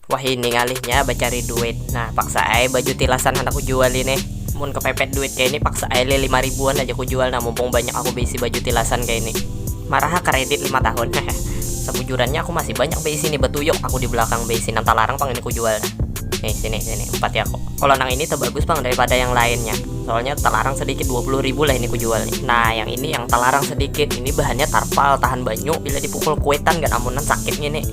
Wahini ngalihnya bacari duit Nah paksa ai baju tilasan handak kujual ini Mun kepepet duit kaya ini paksa ai leh lima ribuan aja kujual nah mumpung banyak aku beisi baju tilasan kaya ini Marah ha kredit lima tahun hehe Sabujurannya aku masih banyak beisi nih batuyuk aku di belakang beisi nang talarang pang ini kujual nah Nih sini sini umpati aku Kalo nang ini tabagus pang daripada yang lainnya Soalnya talarang sedikit dua puluh ribu lah ini kujual nih Nah yang ini yang talarang sedikit ini bahannya tarpal tahan banyu bila dipukul kuitan ganamunan sakit ngini.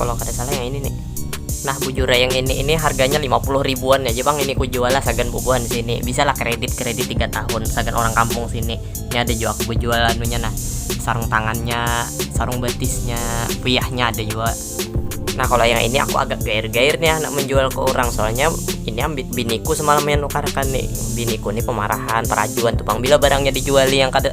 Kalau kada salah yang ini nih. Nah bujura yang ini ini harganya 50 ribuan aja bang ini ku jual lah sagan bubuhan sini bisa lah kredit kredit tiga tahun sagan orang kampung sini ini ada jua aku bejual anunya nah sarung tangannya sarung batisnya puyahnya ada jua nah kalau yang ini aku agak gair gair nih anak menjual ke orang soalnya ini ambil biniku semalam yang nukarkan nih biniku nih pemarahan perajuan tuh bang bila barangnya dijuali yang kada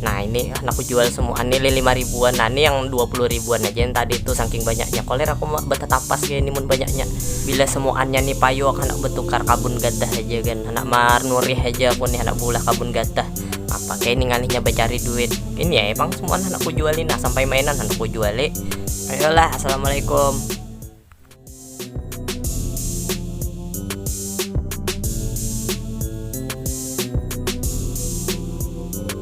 nah ini anak aku jual semua ini lima ribuan nah ini yang dua puluh ribuan aja yang tadi itu saking banyaknya koler aku betetapas kayak ini mun banyaknya bila semuanya nih payu akan aku betukar kabun gatah aja kan anak mar nurih aja aku nih anak bulah kabun gatah apa kayak ini ngalihnya bercari duit ini ya emang semua anak aku jualin nah sampai mainan anak aku jualin ayolah assalamualaikum